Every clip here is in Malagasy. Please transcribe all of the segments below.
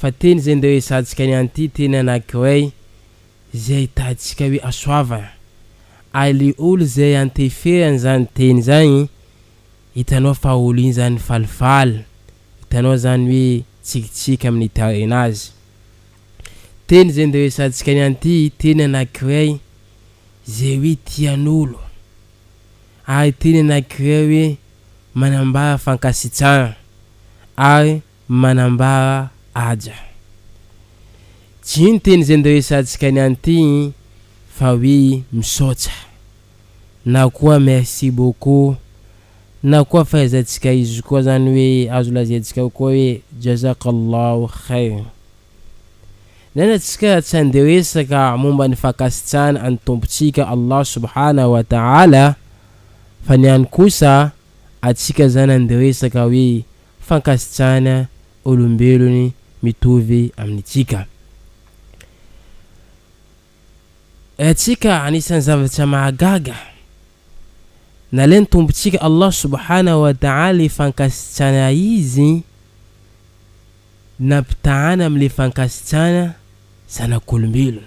fa teny izay ndeha hoezahantsika ny an'ity teny anankiray izay ahitantsika hoe hasoavana. Ary le olo izay anteferany izany teny izany, hitanao fa olo iny izany falifaly, hitanao izany hoe tsikitsiky amin'ny tarenazy. Teny izay ndeha hoezahantsika ny an'ity teny anankiray izay hoe tian'olo, ary teny anankiray hoe manambara fankasitrahana, ary. Manambara aja. Jino teny zay niresatsika niany ty fa hoe misaotsa na koa merci beaucoup na koa fahaizantsika izy koa zany hoe azo lazaintsika koa hoe jazakallahu khair. Nana tsika tsy handeha resaka momba ny fankasitrahana an'i Tompontsika Allah subhanahu wa ta'ala fa niany kosa atsika zany handeha resaka hoe fankasitrahana olombelony mitovy amintsika. Ratsika anisan'ny zavatra mahagaga, nalain'ny Tompontsika Allah subhanahu wa ta'ala le fankasitrana Izy nampitahana amin'le fankasitrana zanak'olombelona.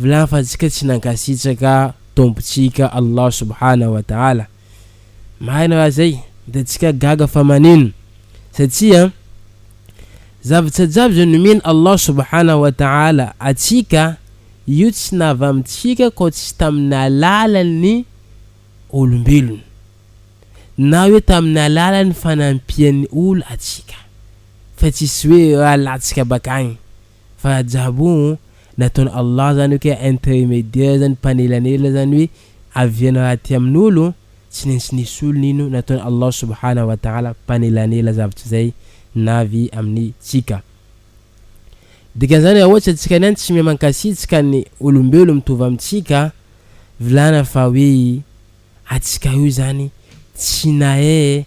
Vilany fa tsika tsy nankasitraka Tompontsika Allah Subhana wa Ta'ala. Marina raha zay de tsika gaga fa manino satria zavatra jiaby zay nomeny Allah Subhana wa Ta'ala atsika io tsy navy amintsika koa tsy tamin'ny alalan'ny olombelona na hoe tamin'ny alalan'ny fanampian'ny olo atsika fa tsisy hoe raha latsaka bakagny. Fa jabo o, nataon' Allah zany oke intermediaire zany mpanelanela zany hoe avia ny raha aty amin' olo, tsy naintsy nisy olona ino, nataon' Allah subhanahu wa ta'ala mpanelanela zavtr' zay navy amin' tsika. Dikan' zany raha ohatr' tsika niany tsy miha mankasitrk ny olombelo mitovy amin' tsika, vlana fa hoe atsika io zany tsy nahe,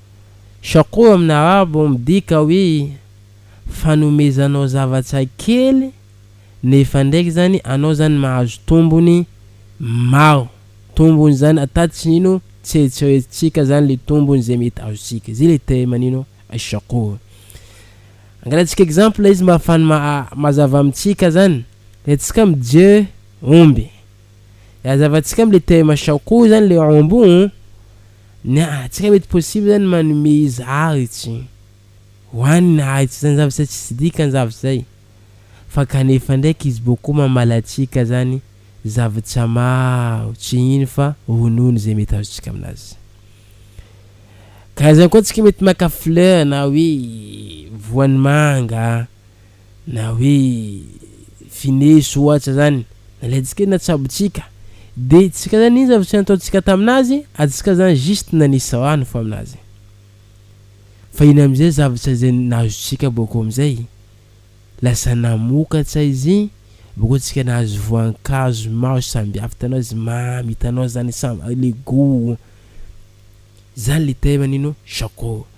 Shakoo amin'ny arabo midika hoe fanomezanao zavatra kely nefa ndraiky zany anao zany mahazo tombony maro. Tombony zany ata tsy nino tsy eritreretintsika zany le tombony zay mety azontsika. Zay le terme nino shakoo. Angalatsika exemple izy mba afany mazava amintsika zany. Retsika mijery omby. Azavantsika amle thème chant koa zany le ao ambony ny antsika mety possible zany manome izy aritsy ho any ny aritsy zany zavatra tsisy dikany zavatra zay fa kanefa ndraiky izy boko mamala antsika zany zavatra maro tsy ino fa ronono izay mety azontsika aminazy karazany koa antsika mety maka fleur na hoe voan'ny manga Na hoe Vineus ohatra zany nalainsika hoe natsabotsika de tsika zany iny zavatra nataontsika taminazy atsika zany juste nanisy rano fo aminazy fa iny amizay zavatra izay nahazotsika boko amizay lasa namokatra izy boko tsika nahazo voankazo maro sambihafa itanao izy mamy itanao zany le gout zany le thème nino Jaco.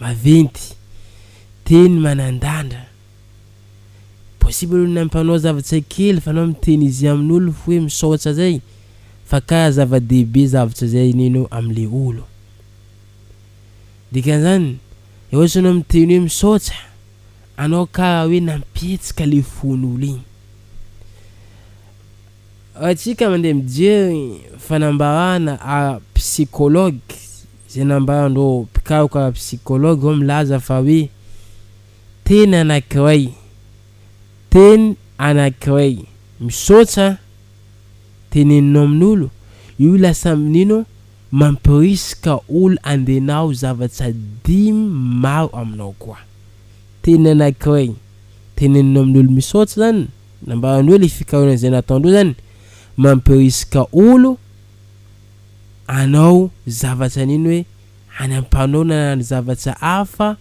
maventy, teny manandandra. Possible aloha na mpanao zava-tsain kely fa anao miteny izy amin olo fo hoe misaotsa zay fa ka zava dehibe zavatra zay enenao am le olo. Dikan zany le ohatra anao miteny hoe misaotsa anao ka hoe nampihetsika le fon olo igny. Atsika mande mijery fanambarana ara psychologue. Izay nambaran'ireo mpikaroka psikology ireo milaza fa hoe teny anankiray, teny anankiray misaotra teneninao amin'olo, io lasa mino mampirisika olo handenao zavatra dimy maro aminao koa. Teny anankiray teneninao amin'olo misaotra izany, nambarany hoe ilay fikarohana izay nataondreo izany mampirisika olo, anao zavatra nino hoe any ampanonana ny zavatra hafa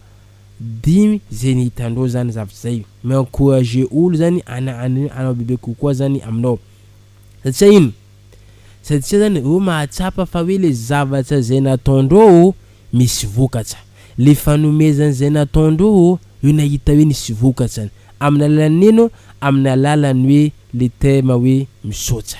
dimy zay ny hitandreo zany zavatra zay mi encourage olo zany ana anao bebe kokoa zany aminao satria ino satria zany reo mahatsapa fa hoe le zavatra zay nataondreo misy vokatra le fanomezana zay nataondreo reo nahita hoe nisy vokatrany aminy alalan'ny ino aminy alalan'ny hoe le terme hoe misaotra.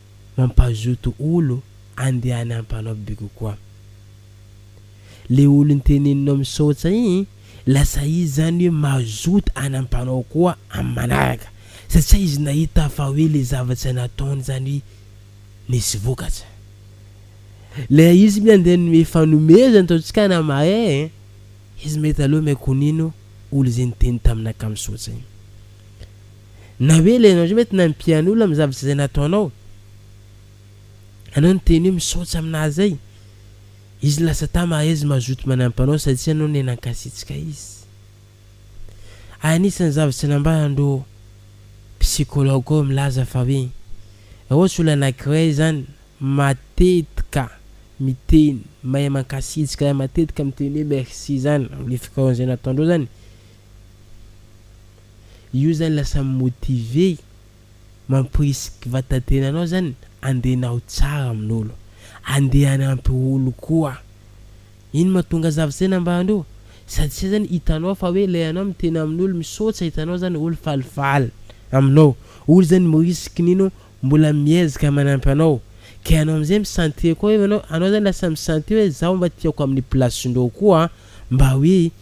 mampazoto olo andehana ampanao bigo koa le olo nteneninao misaotsa igny lasa izy zany hoe mazoto an ampanao koa am manaraka satria izy nahita fa hoe le zavatra nataony zany nisy vokatra le izy mi andeha nome fanomezana ataontsika na mahay e izy mahita aloha me konino olo ze niteny taminaka misaotsa igny. Na hoe ilay ianao indray mety nampian'ny olona amin'ny zavatra izay nataonao. Anao niteny hoe misaotra aminà izay. Izy lasa tà mahezy mazoto manampy anao satria ianao ne nankasitraka izy. Anisan'ny zavatra nambaran'ireo psychologue ireo milaza fa hoe raha ohatra olona anankiray izany matetika miteny mahay mankasitraka, matetika miteny hoe merci izany amin'ny fikarohana izay nataonao izany, Io zany lasa mi motiver i, mamporisy vatatenanao zany andeha anao tsara amin'olo, andeha hanampy olo koa. Iny mahatonga zavtsaina ambany io, satsia zany hitanao fa hoe lay anao miteny amin'olo misaotsa hitanao zany olo falifaly aminao, olo zany mi risque nino mbola miezaka manampy anao, ka ianao amizay mi sentir koa hoe anao, anao zany lasa mi sentir hoe zaho mba tiako amin'ny place-ndreo koa mba hoe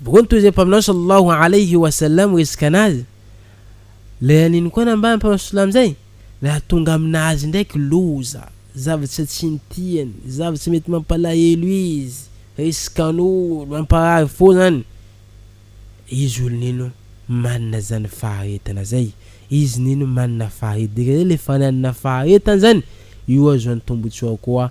Boko nitoy izay mpaminany sallallahu alayhi wa sallam resaka anazy. Ilay aniny koa nambara ny mpaminany sallallahu izay nahatonga aminazy indraiky loza, zavatra tsy nitiany, zavatra mety mampalahelo izy, resikan'olo, hamparary fo zany. Izy olo nino manana zany faharetana zay, izy nino manana faharetana, dika zay le fananana faharetana zany io azo antombontsoa koa.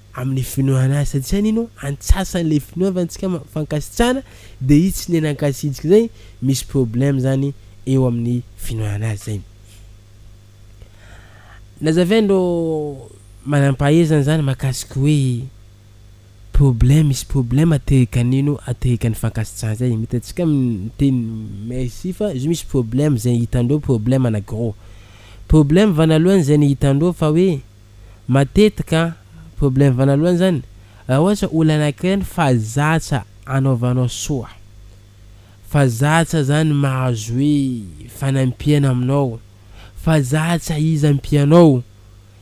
amin'ny finoana azy satria ny no antsasany le finoava antsika fankasitrana de izy tsy nenankasintsika zay misy problème zany eo amin'ny finoana azy zay nazavay ndro manampahaizana zany makasiko hoe problème misy problème atehika nino atehika ny fankasitrana zay mety atsika miteny merci fa izy misy problème zay hitandreo problème na gros problème vanalohany zay ny hitandreo fa hoe Matetika problème vanalohany zany raha ohatra olona anankiray ny fa zatra anaovanao soa, fa zatra zany mahazo hoe fanampiana aminao, fa zatra izy ampianao,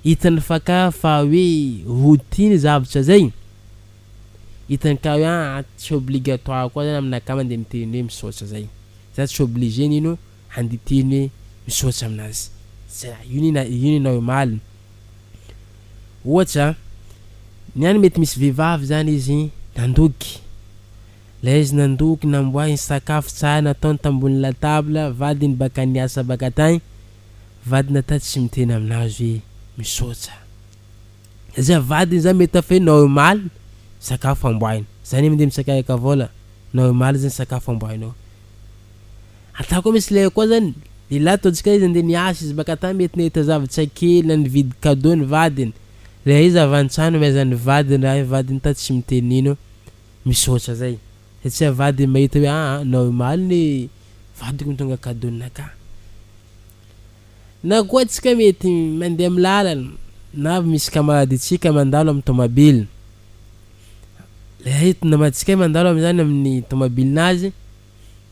hitany fa ka fa hoe routine zavatra zay, hitany ka hoe ah tsy obligatoire koa zany amina ka mandeha miteny hoe misaotra zay, za tsy obligé nino. Andeha hiteny hoe misaotra amin'azy. Zay raha io anie io nenao omaly. Ohatra, ny any mety misy vehivavy zany izy nandoky. Ilay izy nandoky namboahiny sakafo tsara nataony tambony latabla, vadiny baka niasa baka tany, vadiny ata tsy miteny amin'azy hoe misaotra. Zay vadiny zany mety hafa hoe nao omaly sakafo amboahiny. Zany mandeha mitsakayaka vola, nao omaly zany sakafo amboahinao. Ataoko misy lay koa zany, lehilahy ataontsika izy andeha niasa izy maka tany mety nahita zavatra kely na nividy cadeau ny vadiny, lay izy avy antsaha nomezany ny vadiny raha ny vadiny ta tsy miteny nino, misaotra zay, satria ny vadiny mahita hoe aa nao omaly ny vadiko mitondra cadeau ninaka, na koa tsika mety mandeha am lalana na avy misy camarade tsika mandalo am tomabily, lay namantsika mandalo am zany aminy tomabilinazy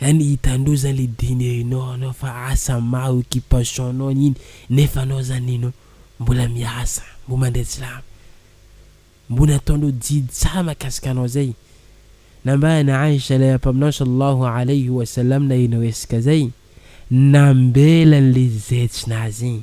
Any hitanao zany le dinerinao anao fa asa maro occupation nao iny nefa anao zany ino mbola miasa mbo mandeha tsilamo mbo nataonao didy tsara makasika anao zay nambarany Aisha lera mpaminany Sallallahu Alayhi wa Sallam naheno resaka zay nambelany le zetsy nazy iny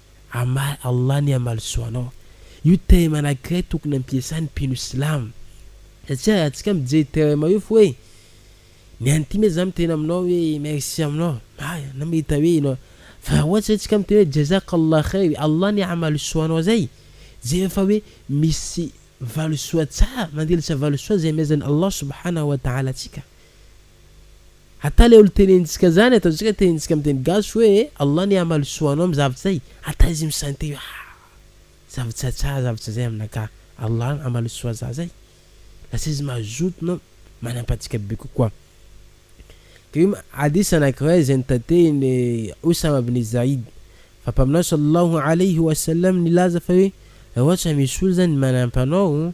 Amah Allah ny hamalisoa anao. Io terme anakiray tokony ampiasan'ny mpino silamo. Satria arantsika mijery terme io fo hoe ny an'ity me za miteny aminao hoe merci aminao marina na mahita hoe ianao fa raha ohatra zay tsika miteny hoe jazak Allah khair Allah ny hamalisoa anao zay jery fa hoe misy valisoa tsara mandelitra valisoa zay amezan'i Allah subhanahu wa ta'ala antsika Ata le olo tenenintsika zany ataontsika tenenintsika am teny gasy hoe Allah anie hamaly soa anao am zavatra zay ata izy misainte io haa zavatra tsara zavatra zay aminakà Allah hamaly soa za zay lasa izy mazoto na manampatsika be kokoa de hoe hadith anakiray zay notatehiny Usama bin Zaid fa Mpaminany Sallallahu Alaihi Wasallam nilaza fa hoe ra ohatra misy olo zany manampa anao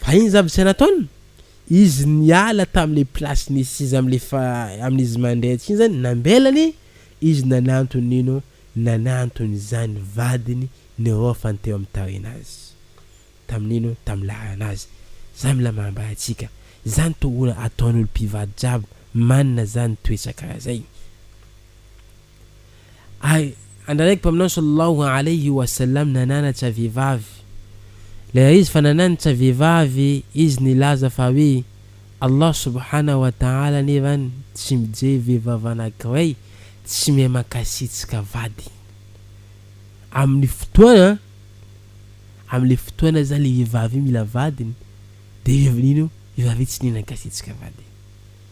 Fa iny zavatra nataony, izy niala tamle place nisy izy amle fa aminy izy mandrehitra iny zany nambelany izy nanantony nino nanantony zany vadiny niraofany teo aminy tarina azy taminy nino taminy laharana azy zany mila manambara atsika zany to ola ataony olo pivady jiaby manana zany toetra kara zay. Ay, andranaky Mpaminany Sallallahu Alayhi wa Sallam nanana tsy vehivavy. Lehilahy izy fa nanana tsy vehivavy izy nilaza fa hoe, Allah Subhanahu wa Ta'ala anefany tsy mijery vehivavy anankiray tsy miha mankasitraka vadiny. Amin'ny fotoana, amin'ilay fotoana izany ilay vehivavy io mila vadiny dia vehivavy io tsy dia nankasitraka vadiny.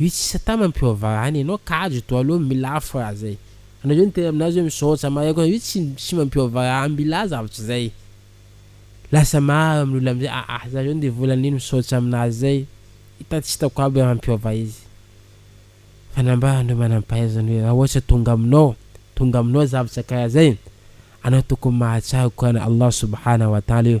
Io tsy satama mpiova any enao kajo to alou milà fra zay anao zay niteny aminazy oe misaotsa mahay koa io tsy tsy mba mpiova any milà zavatra zay lasa maro aminy olona amizay aa za zao ndeha vola nino misaotsa aminazy zay ita tsy itako aby ra mpiova izy fa nambarany reo manampahaizana oe ra oatra tonga aminao tonga aminao zavatra kara zay anao tokony mahatsiaro korana Allah subhana wa taala io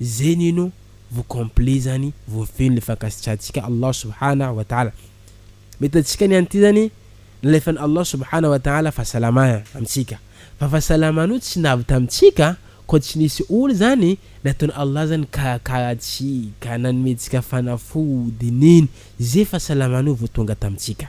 Zay nino vao complet zany voafehin le fankasitrahantsika Allah subhanahu wa ta'ala. Mety antsika ny an'ity zany nalefan'i Allah subhanahu wa ta'ala fahasalama amintsika. Fa fahasalamana io tsy navy tamintsika koa tsy nisy olo zany nataon'i Allah zany nikarakara antsika, nanomentsika fanafody, nino ze fahasalamana io vao tonga tamintsika.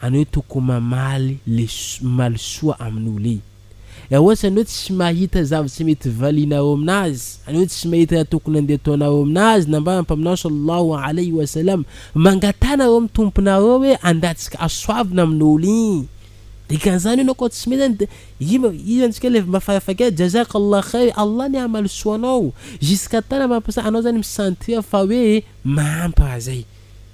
anao hoe toko mamaly le maly soa amin'ny olona e! Ewa sa anao tsy mahita zavatra mety valianao aminazy? Anao tsy mahita raha tokony andeha ataonao aminazy? Nambaran'ny Mpaminany Sallallahu Alaihi Wasallam, Mangataha nareo amin'ny Tomponareo hoe handatsika hasoavina amin'ny olona e! Dikan'izany anao koa tsy mila ny iva iza antsika le mba farafahakeliny Jazaka Allah Khair, Allah anie hamaly soa anao! Jusqu'à temps na mampiasa anao zany mi sentir fa hoe mahampy raha zay.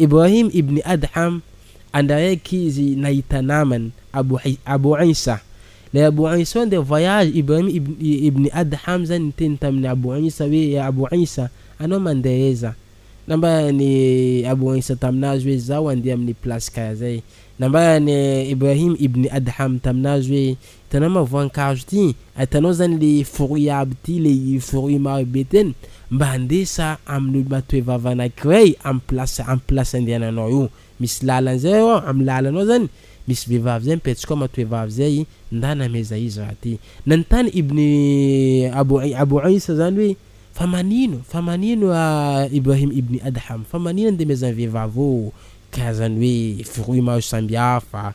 Ibrahim ibn Adham, Andraiky izy nahita namany, Abu Abu Isa. Ilay Abu Isa handeha voyage, Ibrahim ibn ibn Adham zany niteny tamin'i Abu Isa hoe, Ya Abu Isa, anao mandeha aiza? Nambaran'i Abu Isa taminazy hoe, Izaho handeha amin'ny place karaha zay. Nambaran'i Ibrahim ibn Adham taminazy hoe, Hitanao ma voankazo ty, hitanao zany le fruit aby ty le fruit maro be ten mba andesa amin'ny olo-matoevava anankiray am place am place andehananao io misy lalana zay eo am lalanao zany misy vehivavy zay mipetsaka ao matoevavy zay ndana ameza izy raha ty nanontany ibn Abu Abu Isa zany hoe fa manino fa manino Ibrahim ibn Adham fa manino andemezan'ny vehivavy eo karazan'ny hoe fruit maro sambihafa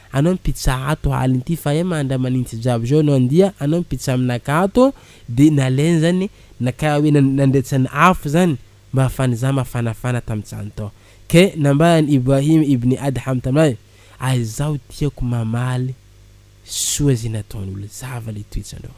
Anao ny pizza ato aliny ity fa ema ndra manintsy jiaby zao anao ndia anao ny pizza aminaka ato de nalainy zany na kara hoe nandretsany afo zany mba hafany za mafanafana tam zany tao ke nambarany Ibrahim ibn Adham tamay ary zaho tiako mamaly soa ze nataon'olo zava le toetsanao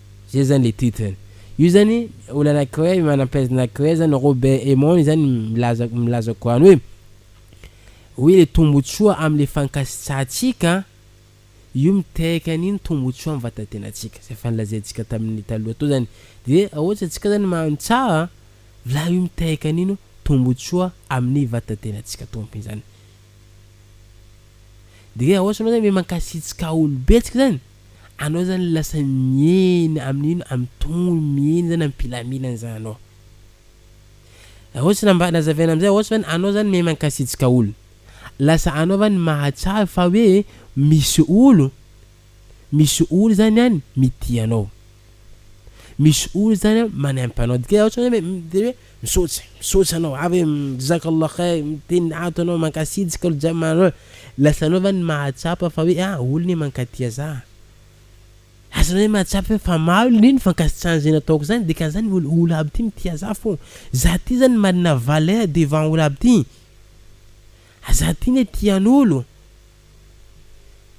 Zay zany le titre ny. Io zany olona anakiray manam-pahaizana anakiray zany Robert Emond zany milaza milaza koa any hoe hoe le tombotsoa amle fankasitsahantsika io miteraka an'iny tombotsoa am vatantenantsika zay efa nolazaintsika tamin'ny taloha tao zany de ra ohatra antsika zany mahandro tsara la io miteraka an'ino tombotsoa amin'ny vatantenantsika tompiny zany de ra ohatra anao zany hoe mankasitsikaa olo betsika zany Anao zany lasa miena amin'ny ino amin'ny tongony miena zany amin'ny filaminana zany anao Raha ohatsy mba nazavaina amzay ohatsy zany anao zany miha mankasitrka olo lasa anao zany mahatsiaro fa hoe misy olo misy olo zany an mitia anao misy olo zany an manaimpy anao dia ohatsy zany hoe Misaotra misaotra anao ary Jazakallah khair miteny ato anao mankasitsika olo jiaby manao lasanao va ny mahatsapa fa hoe ah olo ne mankatia za lasanao ne mahatsapa hoe fa maro ne ny fankasitrahany zay nataoko zany dikan'izany olo olo aby ty mitia za fô za ty zany manana valeur devant olo aby ty ah za ty ne tian'olo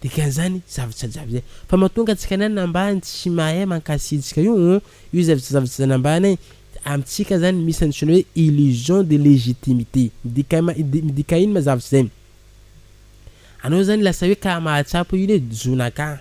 Dikan'izany zavajazavy zay fa mahatonga antsika ny any ambany tsy mahay mankasitrika io oh, io zavajazavy tsy zany ambany eh, amintsika zany misy antsoina hoe illusion de légitimité, midika midika ino ma zavatra zay? Anao zany lasa hoe karaha mahatsapa hoe io lé zona kah.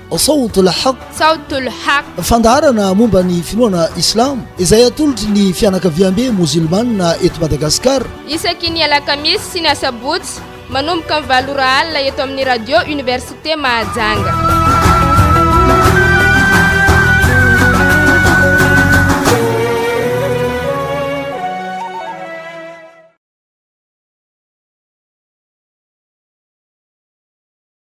Sawt al-Haqq, Sawt al-Haqq, fandaharana momba ny finoana Islamo izay atolotry ny fianakaviambe mozilmana eto Madagasikara. Isaky ny alakamisy sy ny asabotsy, manomboka ny valo ora alina eto amin'ny Radio Université Mahajanga.